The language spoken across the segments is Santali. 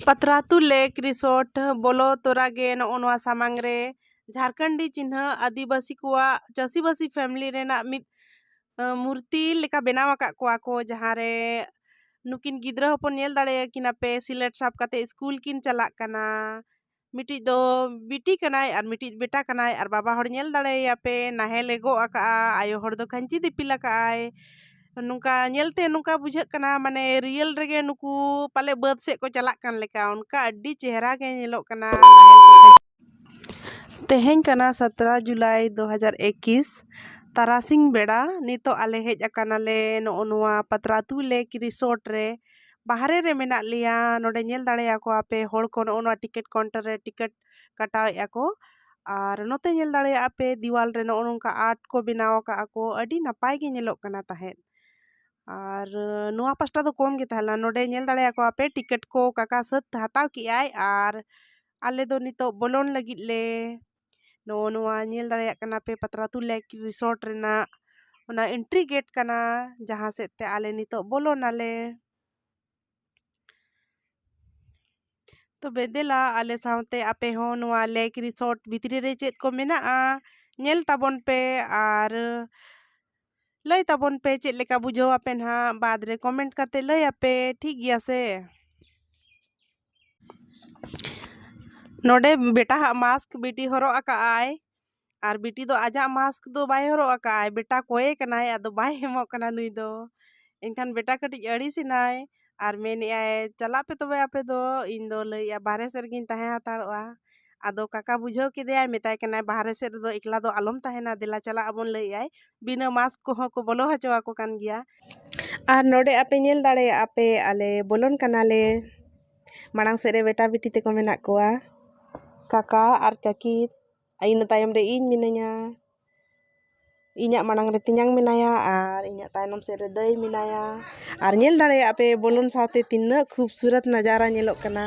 ᱯᱟᱛᱷᱨᱟᱛᱩ ᱞᱮᱠ ᱨᱤᱥᱳᱨᱴ ᱵᱚᱞᱚ ᱛᱚᱨᱟ ᱜᱮ ᱱᱚᱜᱼᱚ ᱱᱚᱣᱟ ᱥᱟᱢᱟᱝ ᱨᱮ ᱡᱷᱟᱨᱠᱷᱚᱸᱰᱤ ᱪᱤᱱᱦᱟᱹ ᱟᱹᱫᱤᱵᱟᱹᱥᱤ ᱠᱚᱣᱟᱜ ᱪᱟᱹᱥᱤᱵᱟᱹᱥᱤ ᱯᱷᱮᱢᱮᱞᱤ ᱨᱮᱱᱟᱜ ᱢᱤᱫ ᱢᱩᱨᱛᱤ ᱞᱮᱠᱟ ᱵᱮᱱᱟᱣ ᱟᱠᱟᱫ ᱠᱚᱣᱟ ᱠᱚ ᱡᱟᱦᱟᱸ ᱨᱮ ᱱᱩᱠᱤᱱ ᱜᱤᱫᱽᱨᱟᱹ ᱦᱚᱯᱚᱱ ᱧᱮᱞ ᱫᱟᱲᱮᱭᱟᱠᱤᱱᱟ ᱯᱮ ᱥᱤᱞᱟᱹᱴ ᱥᱟᱵ ᱠᱟᱛᱮᱫ ᱤᱥᱠᱩᱞ ᱠᱤᱱ ᱪᱟᱞᱟᱜ ᱠᱟᱱᱟ ᱢᱤᱫᱴᱤᱡ ᱫᱚ ᱵᱤᱴᱤ ᱠᱟᱱᱟᱭ ᱟᱨ ᱢᱤᱫᱴᱤᱡ ᱫᱚ ᱵᱮᱴᱟ ᱠᱟᱱᱟᱭ ᱟᱨ ᱵᱟᱵᱟ ᱦᱚᱲ ᱧᱮᱞ ᱫᱟᱲᱮᱭᱟᱭᱟ ᱯᱮ ᱱᱟᱦᱮᱞᱮ ᱜᱚᱜ ᱟᱠᱟᱫᱼᱟ ᱟᱭᱳ ᱦᱚᱲ ᱫᱚ ᱠᱷᱟᱹᱧᱪᱤ ᱫᱤᱯᱤᱞ ᱟᱠᱟᱫ ᱟᱭ ᱱᱚᱝᱠᱟ ᱧᱮᱞᱛᱮ ᱱᱚᱝᱠᱟ ᱵᱩᱡᱷᱟᱹᱜ ᱠᱟᱱᱟ ᱢᱟᱱᱮ ᱨᱤᱭᱮᱞ ᱨᱮᱜᱮ ᱱᱩᱠᱩ ᱯᱟᱞᱮ ᱵᱟᱹᱫᱽ ᱥᱮᱫ ᱠᱚ ᱪᱟᱞᱟᱜ ᱠᱟᱱ ᱞᱮᱠᱟ ᱚᱱᱠᱟ ᱟᱹᱰᱤ ᱪᱮᱦᱨᱟ ᱜᱮ ᱧᱮᱞᱚᱜ ᱠᱟᱱᱟ ᱛᱮᱦᱮᱧ ᱠᱟᱱᱟ ᱥᱟᱛᱨᱟ ᱡᱩᱞᱟᱭ ᱫᱩ ᱦᱟᱡᱟᱨ ᱮᱠᱤᱥ ᱛᱟᱨᱟᱥᱤᱧ ᱵᱮᱲᱟ ᱱᱤᱛᱚᱜ ᱟᱞᱮ ᱦᱮᱡ ᱟᱠᱟᱱᱟᱞᱮ ᱱᱚᱜᱼᱚ ᱱᱚᱣᱟ ᱯᱟᱛᱨᱟ ᱟᱹᱛᱩ ᱞᱮᱠ ᱨᱤᱥᱚᱨᱴ ᱨᱮ ᱵᱟᱦᱨᱮ ᱨᱮ ᱢᱮᱱᱟᱜ ᱞᱮᱭᱟ ᱱᱚᱰᱮ ᱧᱮᱞ ᱫᱟᱲᱮᱭᱟᱠᱚᱣᱟ ᱯᱮ ᱦᱚᱲ ᱠᱚ ᱱᱚᱜᱼᱚ ᱱᱚᱣᱟ ᱴᱤᱠᱤᱴ ᱠᱟᱣᱩᱱᱴᱟᱨ ᱨᱮ ᱴᱤᱠᱤᱴ ᱠᱟᱴᱟᱣᱮᱫᱼᱟ ᱠᱚ ᱟᱨ ᱱᱚᱛᱮ ᱧᱮᱞ ᱫᱟᱲᱮᱭᱟᱜᱼᱟ ᱯᱮ ᱫᱮᱣᱟᱞ ᱨᱮ ᱱᱚᱜᱼᱚ ᱱᱚᱝᱠᱟ ᱟᱨᱴ ᱠᱚ ᱵᱮᱱᱟᱣ ᱟᱠᱟᱫᱼᱟ ᱠᱚ ᱟᱹᱰᱤ ᱱᱟᱯᱟᱭ ᱜᱮ ᱧᱮᱞᱚᱜ ᱠᱟᱱᱟ ᱛᱟᱦᱮᱸᱫ ᱟᱨ ᱱᱚᱣᱟ ᱯᱟᱥᱴᱟ ᱫᱚ ᱠᱚᱢ ᱜᱮ ᱛᱟᱦᱮᱸ ᱞᱮᱱᱟ ᱱᱚᱰᱮ ᱧᱮᱞ ᱫᱟᱲᱮᱭᱟᱠᱚᱣᱟ ᱯᱮ ᱴᱤᱠᱤᱴ ᱠᱚ ᱠᱟᱠᱟ ᱥᱟᱹᱛ ᱦᱟᱛᱟᱣ ᱠᱮᱫᱼᱟᱭ ᱟᱨ ᱟᱞᱮ ᱫᱚ ᱱᱤᱛᱚᱜ ᱵᱚᱞᱚᱱ ᱞᱟᱹᱜᱤᱫ ᱞᱮ ᱱᱚᱜᱼᱚ ᱱᱚᱣᱟ ᱧᱮᱞ ᱫᱟᱲᱮᱭᱟᱜ ᱠᱟᱱᱟ ᱯᱮ ᱯᱟᱛᱲᱟ ᱟᱛᱳ ᱞᱮᱠ ᱨᱤᱥᱚᱨᱴ ᱨᱮᱱᱟᱜ ᱚᱱᱟ ᱮᱱᱴᱨᱤ ᱜᱮᱴ ᱠᱟᱱᱟ ᱡᱟᱦᱟᱸ ᱥᱮᱫ ᱛᱮ ᱟᱞᱮ ᱱᱤᱛᱳᱜ ᱵᱚᱞᱚᱱᱟᱞᱮ ᱛᱚᱵᱮ ᱫᱮᱞᱟ ᱟᱞᱮ ᱥᱟᱶᱛᱮ ᱟᱯᱮ ᱦᱚᱸ ᱱᱚᱣᱟ ᱞᱮᱠ ᱨᱤᱥᱚᱨᱴ ᱵᱷᱤᱛᱨᱤ ᱨᱮ ᱪᱮᱫ ᱠᱚ ᱢᱮᱱᱟᱜᱼᱟ ᱧᱮᱞ ᱛᱟᱵᱚᱱ ᱯᱮ ᱟᱨ ᱞᱟᱹᱭ ᱛᱟᱵᱚᱱ ᱯᱮ ᱪᱮᱫ ᱞᱮᱠᱟ ᱵᱩᱡᱷᱟᱹᱣ ᱟᱯᱮ ᱱᱟᱦᱟᱜ ᱵᱟᱫᱽ ᱨᱮ ᱠᱚᱢᱮᱱᱴ ᱠᱟᱛᱮ ᱞᱟᱹᱭ ᱟᱯᱮ ᱴᱷᱤᱠ ᱜᱮᱭᱟ ᱥᱮ ᱱᱚᱰᱮ ᱵᱮᱴᱟ ᱦᱟᱜ ᱢᱟᱥᱠ ᱵᱤᱴᱤ ᱦᱚᱨᱚᱜ ᱟᱠᱟᱫ ᱟᱭ ᱟᱨ ᱵᱤᱴᱤ ᱫᱚ ᱟᱡᱟᱜ ᱢᱟᱥᱠ ᱫᱚ ᱵᱟᱭ ᱦᱚᱨᱚᱜ ᱟᱠᱟᱫ ᱟᱭ ᱵᱮᱴᱟ ᱠᱚᱭᱮ ᱠᱟᱱᱟᱭ ᱟᱫᱚ ᱵᱟᱭ ᱮᱢᱚᱜ ᱠᱟᱱᱟ ᱱᱩᱭ ᱫᱚ ᱮᱱᱠᱷᱟᱱ ᱵᱮᱴᱟ ᱠᱟᱹᱴᱤᱡ ᱟᱹᱲᱤᱥ ᱮᱱᱟᱭ ᱟᱨ ᱢᱮᱱᱮᱫ ᱟᱭ ᱪᱟᱞᱟᱜ ᱯᱮ ᱛᱚᱵᱮ ᱟᱯᱮ ᱫᱚ ᱤᱧ ᱫᱚ ᱞᱟᱹᱭᱮᱫ ᱟᱭ ᱵᱟᱦᱨᱮ ᱥᱮᱫ ᱨᱮᱜᱮᱧ ᱛᱟᱦᱮᱸ ᱦᱟᱛᱟᱲᱚᱜᱼᱟ ᱟᱫᱚ ᱠᱟᱠᱟ ᱵᱩᱡᱷᱟᱹᱣ ᱠᱮᱫᱮᱭᱟᱭ ᱢᱮᱛᱟᱭ ᱠᱟᱱᱟᱭ ᱵᱟᱦᱨᱮ ᱥᱮᱫ ᱨᱮᱫᱚ ᱮᱠᱞᱟ ᱫᱚ ᱟᱞᱚᱢ ᱛᱟᱦᱮᱱᱟ ᱫᱮᱞᱟ ᱪᱟᱞᱟᱜ ᱟᱵᱚᱱ ᱞᱟᱹᱭᱮᱫ ᱟᱭ ᱵᱤᱱᱟᱹ ᱢᱟᱠᱥ ᱠᱚᱦᱚᱸ ᱠᱚ ᱵᱚᱞᱚ ᱦᱚᱪᱚ ᱟᱠᱚ ᱠᱟᱱ ᱜᱮᱭᱟ ᱟᱨ ᱱᱚᱰᱮ ᱟᱯᱮ ᱧᱮᱞ ᱫᱟᱲᱮᱭᱟᱜᱼᱟ ᱯᱮ ᱟᱞᱮ ᱵᱚᱞᱚᱱ ᱠᱟᱱᱟᱞᱮ ᱢᱟᱲᱟᱝ ᱥᱮᱫ ᱨᱮ ᱵᱮᱴᱟ ᱵᱤᱴᱤ ᱛᱟᱠᱚ ᱢᱮᱱᱟᱜ ᱠᱚᱣᱟ ᱠᱟᱠᱟ ᱟᱨ ᱠᱟᱹᱠᱤ ᱟᱨ ᱤᱱᱟᱹ ᱛᱟᱭᱚᱢ ᱨᱮ ᱤᱧ ᱢᱤᱱᱟᱹᱧᱟ ᱤᱧᱟᱹᱜ ᱢᱟᱲᱟᱝ ᱨᱮ ᱛᱮᱧᱟᱝ ᱢᱮᱱᱟᱭᱟ ᱟᱨ ᱤᱧᱟᱹᱜ ᱛᱟᱭᱱᱚᱢ ᱥᱮᱫ ᱨᱮ ᱫᱟᱹᱭ ᱢᱮᱱᱟᱭᱟ ᱟᱨ ᱧᱮᱞ ᱫᱟᱲᱮᱭᱟᱜᱼᱟ ᱯᱮ ᱵᱚᱞᱚᱱ ᱥᱟᱶᱛᱮ ᱛᱤᱱᱟᱹᱜ ᱠᱷᱩᱵᱽᱥᱩᱨᱚᱛ ᱱᱟᱡᱟᱨᱟ ᱧᱮᱞᱚᱜ ᱠᱟᱱᱟ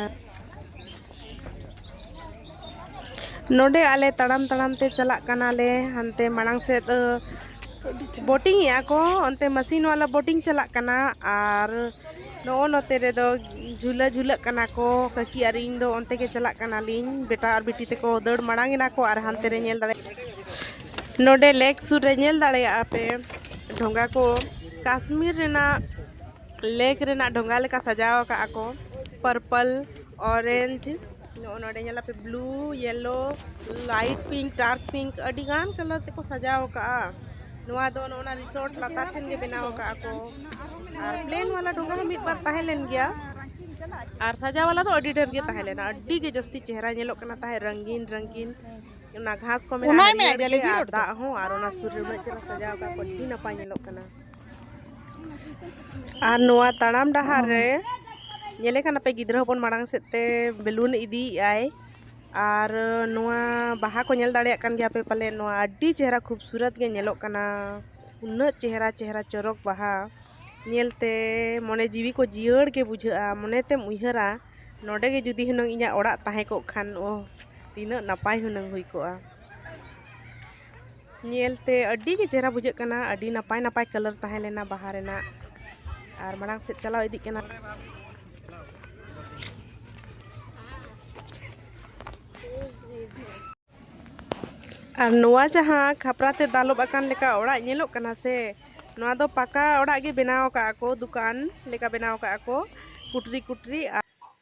ᱱᱚᱰᱮ ᱟᱞᱮ ᱛᱟᱲᱟᱢ ᱛᱟᱲᱟᱢ ᱛᱮ ᱪᱟᱞᱟᱜ ᱠᱟᱱᱟᱞᱮ ᱦᱟᱱᱛᱮ ᱢᱟᱲᱟᱝ ᱥᱮᱫ ᱵᱳᱴᱤᱝ ᱮᱫᱟ ᱠᱚ ᱚᱱᱛᱮ ᱢᱮᱥᱤᱱ ᱵᱟᱞᱟ ᱵᱳᱴᱤᱝ ᱪᱟᱞᱟᱜ ᱠᱟᱱᱟ ᱟᱨ ᱱᱚᱜᱼᱚ ᱱᱚᱛᱮ ᱨᱮᱫᱚ ᱡᱷᱩᱞᱟᱹ ᱡᱷᱩᱞᱟᱹᱜ ᱠᱟᱱᱟ ᱠᱚ ᱠᱟᱹᱠᱤ ᱟᱨ ᱤᱧ ᱫᱚ ᱚᱱᱛᱮ ᱜᱮ ᱪᱟᱞᱟᱜ ᱠᱟᱱᱟᱞᱤᱧ ᱵᱮᱴᱟ ᱟᱨ ᱵᱤᱴᱤ ᱛᱮᱠᱚ ᱫᱟᱹᱲ ᱢᱟᱲᱟᱝ ᱮᱱᱟ ᱠᱚ ᱟᱨ ᱦᱟᱱᱛᱮ ᱨᱮ ᱧᱮᱞ ᱫᱟᱲᱮᱭᱟᱜ ᱱᱚᱰᱮ ᱞᱮᱠ ᱥᱩᱨ ᱨᱮ ᱧᱮᱞ ᱫᱟᱲᱮᱭᱟᱜᱼᱟ ᱯᱮ ᱰᱷᱚᱸᱜᱟ ᱠᱚ ᱠᱟᱥᱢᱤᱨ ᱨᱮᱱᱟᱜ ᱞᱮᱠ ᱨᱮᱱᱟᱜ ᱰᱷᱚᱸᱜᱟ ᱞᱮᱠᱟ ᱥᱟᱡᱟᱣ ᱟᱠᱟᱫ ᱟᱠᱚ ᱯᱟᱨᱯᱟᱞ ᱚᱨᱮᱧᱡᱽ ᱱᱚᱜᱼᱚ ᱱᱚᱰᱮ ᱧᱮᱞ ᱟᱯᱮ blue yellow light pink dark pink ᱟᱹᱰᱤ ᱜᱟᱱ ᱠᱟᱞᱟᱨ ᱛᱮᱠᱚ ᱥᱟᱡᱟᱣ ᱟᱠᱟᱜᱼᱟ ᱱᱚᱣᱟ ᱫᱚ ᱱᱚᱜᱼᱚ ᱱᱟ ᱨᱤᱥᱚᱨᱴ ᱞᱟᱛᱟᱨ ᱴᱷᱮᱱ ᱜᱮ ᱵᱮᱱᱟᱣ ᱟᱠᱟᱜᱼᱟ ᱠᱚ ᱟᱨ ᱯᱞᱮᱱ ᱣᱟᱞᱟ ᱰᱷᱚᱸᱜᱟ ᱦᱚᱸ ᱢᱤᱫ ᱵᱟᱨ ᱛᱟᱦᱮᱸ ᱞᱮᱱ ᱜᱮᱭᱟ ᱟᱨ ᱥᱟᱡᱟᱣ ᱣᱟᱞᱟ ᱫᱚ ᱟᱹᱰᱤ ᱰᱷᱮᱨ ᱜᱮ ᱛᱟᱦᱮᱸ ᱞᱮᱱᱟ ᱟᱹᱰᱤ ᱜᱮ ᱡᱟᱹᱥᱛᱤ ᱪᱮᱦᱨᱟ ᱧᱮᱞᱚᱜ ᱠᱟᱱᱟ ᱛᱟᱦᱮᱸᱫ ᱨᱚᱝᱜᱤᱱ ᱨᱚᱝᱜᱤᱱ ᱚᱱᱟ ᱜᱷᱟᱥ ᱠᱚ ᱢᱮᱱᱟᱜᱼᱟ ᱫᱟᱜ ᱦᱚᱸ ᱟᱨ ᱚᱱᱟ ᱥᱩᱨ ᱨᱮ ᱩᱱᱟᱹᱜ ᱪᱮᱦᱨᱟ ᱥᱟᱡᱟᱣ ᱟᱠᱟᱫ ᱠᱚ ᱟᱹᱰᱤ ᱱᱟᱯᱟᱭ ᱧᱮᱞᱚᱜ ᱠᱟᱱᱟ ᱟᱨ ᱱᱚᱣᱟ ᱛᱟᱲᱟᱢ ᱰᱟᱦᱟᱨ ᱨᱮ ᱧᱮᱞᱮ ᱠᱟᱱᱟ ᱯᱮ ᱜᱤᱫᱽᱨᱟᱹ ᱦᱚᱯᱚᱱ ᱢᱟᱲᱟᱝ ᱥᱮᱫ ᱛᱮ ᱵᱮᱞᱩᱱ ᱤᱫᱤᱭᱮᱜᱼᱟᱭ ᱟᱨ ᱱᱚᱣᱟ ᱵᱟᱦᱟ ᱠᱚ ᱧᱮᱞ ᱫᱟᱲᱮᱭᱟᱜ ᱠᱟᱱ ᱜᱮᱭᱟ ᱯᱮ ᱯᱟᱞᱮ ᱱᱚᱣᱟ ᱟᱹᱰᱤ ᱪᱮᱦᱨᱟ ᱠᱷᱩᱵᱥᱩᱨᱟᱛ ᱜᱮ ᱧᱮᱞᱚᱜ ᱠᱟᱱᱟ ᱩᱱᱟᱹᱜ ᱪᱮᱦᱨᱟ ᱪᱮᱦᱨᱟ ᱪᱚᱨᱚᱠ ᱵᱟᱦᱟ ᱧᱮᱞᱛᱮ ᱢᱚᱱᱮ ᱡᱤᱣᱤ ᱠᱚ ᱡᱤᱭᱟᱹᱲ ᱜᱮ ᱵᱩᱡᱷᱟᱹᱜᱼᱟ ᱢᱚᱱᱮᱛᱮᱢ ᱩᱭᱦᱟᱹᱨᱟ ᱱᱚᱰᱮ ᱜᱮ ᱡᱩᱫᱤ ᱦᱩᱱᱟᱹᱝ ᱤᱧᱟᱹᱜ ᱚᱲᱟᱜ ᱛᱟᱦᱮᱸ ᱠᱚᱜ ᱠᱷᱟᱱ ᱚ ᱛᱤᱱᱟᱹᱜ ᱱᱟᱯᱟᱭ ᱦᱩᱱᱟᱹᱝ ᱦᱩᱭ ᱠᱚᱜᱼᱟ ᱧᱮᱞᱛᱮ ᱟᱹᱰᱤ ᱜᱮ ᱪᱮᱦᱨᱟ ᱵᱩᱡᱷᱟᱹᱜ ᱠᱟᱱᱟ ᱟᱹᱰᱤ ᱱᱟᱯᱟᱭ ᱱᱟᱯᱟᱭ ᱠᱟᱞᱟᱨ ᱛᱟᱦᱮᱸ ᱞᱮᱱᱟ ᱵᱟᱦᱟ ᱨᱮᱱᱟᱜ ᱟᱨ ᱢᱟᱲᱟᱝ ᱥᱮᱫ ᱪᱟᱞᱟᱣ ᱤᱫᱤᱜ ᱠᱟᱱᱟ ᱟᱨ ᱱᱚᱣᱟ ᱡᱟᱦᱟᱸ ᱠᱷᱟᱯᱨᱟ ᱛᱮ ᱫᱟᱞᱚᱵ ᱟᱠᱟᱱ ᱞᱮᱠᱟ ᱚᱲᱟᱜ ᱧᱮᱞᱚᱜ ᱠᱟᱱᱟ ᱥᱮ ᱱᱚᱣᱟ ᱫᱚ ᱯᱟᱠᱟ ᱚᱲᱟᱜ ᱜᱮ ᱵᱮᱱᱟᱣ ᱟᱠᱟᱫ ᱟᱠᱚ ᱫᱚᱠᱟᱱ ᱞᱮᱠᱟ ᱵᱮᱱᱟᱣ ᱟᱠᱟᱫ ᱟᱠᱚ ᱠᱩᱴᱨᱤ ᱠᱩᱴᱨᱤ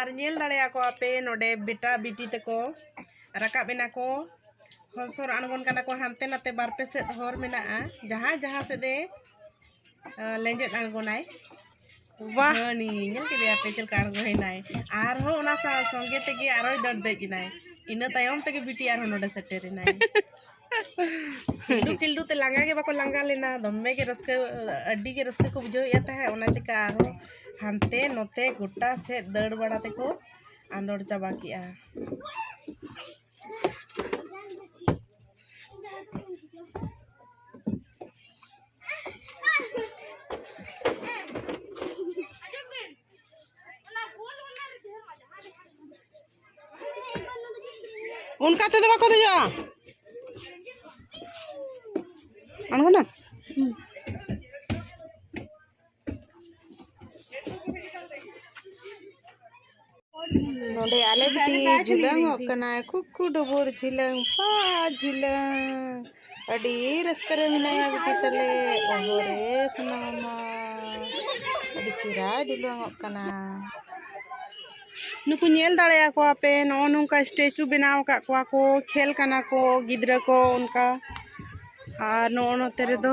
ᱟᱨ ᱧᱮᱞ ᱫᱟᱲᱮᱭᱟᱠᱚᱣᱟ ᱯᱮ ᱱᱚᱰᱮ ᱵᱮᱴᱟ ᱵᱤᱴᱤ ᱛᱮᱠᱚ ᱨᱟᱠᱟᱵ ᱮᱱᱟ ᱠᱚ ᱦᱚᱥᱚᱨ ᱟᱬᱜᱚᱱ ᱠᱟᱱᱟ ᱠᱚ ᱦᱟᱱᱛᱮ ᱱᱟᱛᱮ ᱵᱟᱨ ᱯᱮ ᱥᱮᱫ ᱦᱚᱨ ᱢᱮᱱᱟᱜᱼᱟ ᱡᱟᱦᱟᱸᱭ ᱡᱟᱦᱟᱸ ᱥᱮᱫ ᱮ ᱞᱮᱸᱡᱮᱫ ᱟᱬᱜᱚᱱᱟᱭ ᱵᱟᱦ ᱦᱟᱹᱱᱤ ᱧᱮᱞ ᱠᱮᱫᱮᱭᱟ ᱯᱮ ᱪᱮᱫ ᱞᱮᱠᱟ ᱟᱬᱜᱚᱭᱮᱱᱟᱭ ᱟᱨᱦᱚᱸ ᱚᱱᱟ ᱥᱟᱶ ᱥᱚᱸᱜᱮ ᱛᱮᱜᱮ ᱟᱨᱦᱚᱸᱭ ᱫᱟᱹᱲ ᱫᱮᱡ ᱮᱱᱟᱭ ᱤᱱᱟᱹ ᱛᱟᱭᱚᱢ ᱛᱮᱜᱮ ᱵᱤᱴᱤ ᱟᱨᱦᱚᱸ ᱱᱚᱰᱮ ᱥᱮᱴᱮᱨᱮᱱᱟᱭ ᱴᱤᱞᱰᱩ ᱴᱤᱞᱰᱩ ᱛᱮ ᱞᱟᱸᱜᱟ ᱜᱮ ᱵᱟᱠᱚ ᱞᱟᱸᱜᱟ ᱞᱮᱱᱟ ᱫᱚᱢᱮ ᱜᱮ ᱨᱟᱹᱥᱠᱟᱹ ᱟᱹᱰᱤ ᱜᱮ ᱨᱟᱹᱥᱠᱟᱹ ᱠᱚ ᱵᱩᱡᱷᱟᱹᱣᱮᱫᱼᱟ ᱛᱟᱦᱮᱸᱫ ᱚᱱᱟ ᱪᱤᱠᱟᱹ ᱟᱨᱦᱚᱸ ᱦᱟᱱᱛᱮ ᱱᱚᱛᱮ ᱜᱚᱴᱟ ᱥᱮᱫ ᱫᱟᱹᱲ ᱵᱟᱲᱟ ᱛᱮᱠᱚ ᱟᱸᱫᱚᱲ ᱪᱟᱵᱟ ᱠᱮᱜᱼᱟ ᱚᱱᱠᱟ ᱛᱮᱫᱚ ᱵᱟᱠᱚ ᱫᱮᱡᱚᱜᱼᱟ ᱟᱬᱜᱚᱱᱟ ᱱᱚᱰᱮ ᱟᱞᱮ ᱵᱤᱴᱤ ᱡᱷᱩᱞᱟᱹᱝᱚᱜ ᱠᱟᱱᱟᱭ ᱠᱩᱠᱩ ᱰᱩᱵᱩᱨ ᱡᱷᱤᱞᱟᱹᱝ ᱯᱟ ᱡᱷᱤᱞᱟᱹᱝ ᱟᱹᱰᱤ ᱨᱟᱹᱥᱠᱟᱹ ᱨᱮ ᱢᱮᱱᱟᱭᱟ ᱵᱤᱴᱤ ᱛᱟᱞᱮ ᱚᱦᱚ ᱨᱮ ᱥᱚᱱᱟ ᱢᱟᱢᱟ ᱟᱹᱰᱤ ᱪᱮᱦᱨᱟᱭ ᱰᱷᱤᱞᱣᱟᱝᱚᱜ ᱠᱟᱱᱟ ᱱᱩᱠᱩ ᱧᱮᱞ ᱫᱟᱲᱮᱭᱟᱠᱚᱣᱟ ᱯᱮ ᱱᱚᱜᱼᱚ ᱱᱚᱝᱠᱟ ᱥᱴᱮᱪᱩ ᱵᱮᱱᱟᱣ ᱟᱠᱟᱫ ᱠᱚᱣᱟ ᱠᱚ ᱠᱷᱮᱞ ᱠᱟᱱᱟ ᱠᱚ ᱜᱤᱫᱽᱨᱟᱹ ᱠᱚ ᱚᱱᱠᱟ ᱟᱨ ᱱᱚᱜᱼᱚ ᱱᱚᱛᱮ ᱨᱮᱫᱚ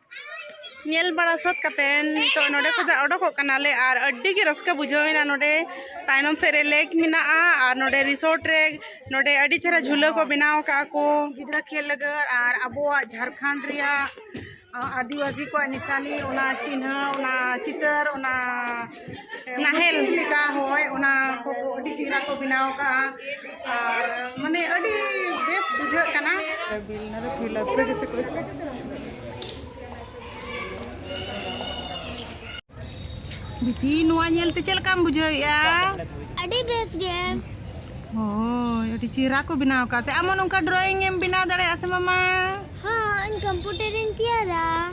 ᱧᱮᱞ ᱵᱟᱲᱟ ᱥᱟᱹᱛ ᱠᱟᱛᱮ ᱱᱤᱛᱚᱜ ᱱᱚᱰᱮ ᱠᱷᱚᱱᱟᱜ ᱚᱰᱚᱠᱚᱜ ᱠᱟᱱᱟᱞᱮ ᱟᱨ ᱟᱹᱰᱤ ᱜᱮ ᱨᱟᱹᱥᱠᱟᱹ ᱵᱩᱡᱷᱟᱹᱣᱮᱱᱟ ᱱᱚᱰᱮ ᱛᱟᱭᱱᱚᱢ ᱥᱮᱫ ᱨᱮ ᱞᱮᱠ ᱢᱮᱱᱟᱜᱼᱟ ᱟᱨ ᱱᱚᱰᱮ ᱨᱤᱥᱚᱨᱴ ᱨᱮ ᱱᱚᱰᱮ ᱟᱹᱰᱤ ᱪᱮᱦᱨᱟ ᱡᱷᱩᱞᱟᱹ ᱠᱚ ᱵᱮᱱᱟᱣ ᱠᱟᱜᱼᱟ ᱠᱚ ᱜᱤᱫᱽᱨᱟᱹ ᱠᱷᱮᱞ ᱞᱟᱹᱜᱤᱫ ᱟᱨ ᱟᱵᱚᱣᱟᱜ ᱡᱷᱟᱲᱠᱷᱚᱸᱰ ᱨᱮᱭᱟᱜ ᱟᱹᱫᱤᱵᱟᱹᱥᱤ ᱠᱚᱣᱟᱜ ᱱᱤᱥᱟᱱᱤ ᱚᱱᱟ ᱪᱤᱱᱦᱟᱹ ᱚᱱᱟ ᱪᱤᱛᱟᱹᱨ ᱚᱱᱟ ᱱᱟᱦᱮᱞ ᱞᱮᱠᱟ ᱦᱳᱭ ᱚᱱᱟ ᱠᱚ ᱟᱹᱰᱤ ᱪᱮᱦᱨᱟ ᱠᱚ ᱵᱮᱱᱟᱣ ᱠᱟᱜᱼᱟ ᱟᱨ ᱢᱟᱱᱮ ᱟᱹᱰᱤ ᱵᱮᱥ ᱵᱩᱡᱷᱟᱹᱜ ᱠᱟᱱᱟ ᱵᱤᱴᱤ ᱱᱚᱣᱟ ᱧᱮᱞᱛᱮ ᱪᱮᱫ ᱞᱮᱠᱟᱢ ᱵᱩᱡᱷᱟᱹᱣᱮᱫᱼᱟ ᱟᱹᱰᱤ ᱵᱮᱥ ᱜᱮ ᱦᱳᱭ ᱟᱹᱰᱤ ᱪᱮᱦᱨᱟ ᱠᱚ ᱵᱮᱱᱟᱣ ᱠᱟᱜᱼᱟ ᱥᱮ ᱟᱢ ᱦᱚᱸ ᱱᱚᱝᱠᱟ ᱰᱨᱚᱭᱤᱝ ᱮᱢ ᱵᱮᱱᱟᱣ ᱫᱟᱲᱮᱭᱟᱜᱼᱟ ᱥᱮ ᱢᱟᱢᱟ ᱦᱚᱸ ᱤᱧ ᱠᱚᱢᱯᱤᱭᱩᱴᱟᱨ ᱤᱧ ᱛᱮᱭᱟᱨᱟ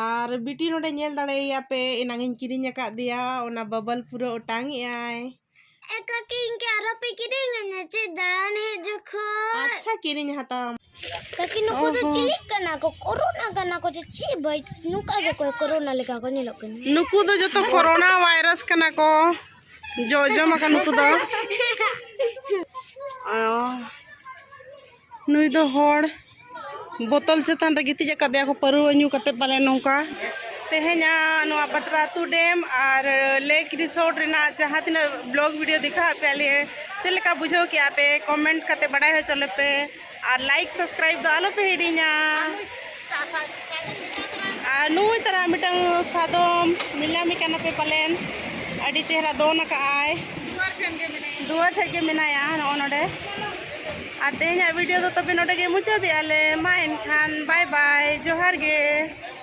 ᱟᱨ ᱵᱤᱴᱤ ᱱᱚᱰᱮ ᱧᱮᱞ ᱫᱟᱲᱮᱭᱟᱭᱟ ᱯᱮ ᱮᱱᱟᱝ ᱤᱧ ᱠᱤᱨᱤᱧ ᱟᱠᱟᱫ ᱫᱮᱭᱟ ᱚᱱᱟ ᱵᱟᱵᱚᱞ ᱯᱩᱨᱟᱹ ᱚᱴᱟᱝ ᱮ ᱟᱭ ᱮ ᱠᱟᱹᱠᱤ ᱤᱧ ᱠᱮ ᱟᱨᱚ ᱯᱮ ᱠᱤᱨᱤᱧ ᱟᱹᱧᱟ ᱪᱮᱫ ᱫᱟᱬᱟᱱ ᱦᱮᱡ ᱡᱚᱠᱷᱚᱱ ᱟᱪᱪᱷᱟ ᱠᱤᱨᱤᱧ ᱦᱟᱛᱟᱣ ᱠᱟᱹᱠᱤ ᱱᱩᱠᱩ ᱫᱚ ᱪᱤᱞᱤ ᱠᱟᱱᱟ ᱠᱚ ᱠᱚᱨᱳᱱᱟ ᱠᱟᱱᱟ ᱠᱚ ᱪᱮᱫ ᱵᱟᱭ ᱱᱚᱝᱠᱟ ᱜᱮᱠᱚ ᱠᱚᱨᱳᱱᱟ ᱞᱮᱠᱟ ᱠᱚ ᱧᱮᱞᱚᱜ ᱠᱟᱱᱟ ᱱᱩᱠᱩ ᱫᱚ ᱡᱚᱛᱚ ᱠᱚᱨᱳᱱᱟ ᱵᱷᱟᱭᱨᱟᱥ ᱠᱟᱱᱟ ᱠᱚ ᱡᱚ ᱡᱚᱢ ᱟᱠᱟᱱ ᱱᱩᱠᱩ ᱫᱚ ᱱᱩᱭ ᱫᱚ ᱦᱚᱲ ᱵᱚᱛᱚᱞ ᱪᱮᱛᱟᱱ ᱨᱮ ᱜᱤᱛᱤᱡ ᱟᱠᱟᱫᱮᱭᱟ ᱠᱚ ᱯᱟᱹᱨᱣᱟᱹ ᱧᱩ ᱠᱟᱛᱮ ᱯᱟᱞᱮ ᱱᱚᱝᱠᱟ ᱛᱮᱦᱮᱧᱟᱜ ᱱᱚᱣᱟ ᱯᱟᱛᱨᱟ ᱟᱹᱛᱩ ᱰᱮᱢ ᱟᱨ ᱞᱮᱠ ᱨᱤᱥᱚᱨᱴ ᱨᱮᱱᱟᱜ ᱡᱟᱦᱟᱸ ᱛᱤᱱᱟᱹᱜ ᱵᱞᱚᱜᱽ ᱵᱷᱤᱰᱤᱭᱳ ᱫᱮᱠᱷᱟᱣᱟᱫ ᱯᱮᱭᱟᱞᱮ ᱪᱮᱫ ᱞᱮᱠᱟ ᱵᱩᱡᱷᱟᱹᱣ ᱠᱮᱜᱼᱟ ᱯᱮ ᱠᱚᱢᱮᱱᱴ ᱠᱟᱛᱮ ᱵᱟᱰᱟᱭ ᱦᱚᱪᱚ ᱞᱮᱯᱮ ᱟᱨ ᱞᱟᱭᱤᱠ ᱥᱟᱵᱥᱠᱨᱟᱭᱤᱵ ᱫᱚ ᱟᱞᱚ ᱯᱮ ᱦᱤᱲᱤᱧᱟ ᱟᱨ ᱱᱩᱭ ᱛᱟᱨᱟ ᱢᱤᱫᱴᱟᱝ ᱥᱟᱫᱚᱢ ᱧᱮᱞᱧᱟᱢᱮ ᱠᱟᱱᱟ ᱯᱮ ᱯᱟᱞᱮᱱ ᱟᱹᱰᱤ ᱪᱮᱦᱨᱟ ᱫᱚᱱ ᱟᱠᱟᱜᱼᱟᱭ ᱫᱩᱣᱟᱨ ᱴᱷᱮᱡ ᱜᱮ ᱢᱮᱱᱟᱭᱟ ᱱᱚᱜᱼᱚ ᱱᱚᱰᱮ ᱟᱨ ᱛᱮᱦᱮᱧᱟᱜ ᱵᱷᱤᱰᱤᱭᱳ ᱫᱚ ᱛᱚᱵᱮ ᱱᱚᱰᱮ ᱜᱮ ᱢᱩᱪᱟᱹᱫᱮᱜᱼᱟ ᱞᱮ ᱢᱟ ᱮᱱᱠᱷᱟᱱ ᱵᱟᱭ ᱵᱟᱭ ᱡᱚᱦᱟᱨ ᱜᱮ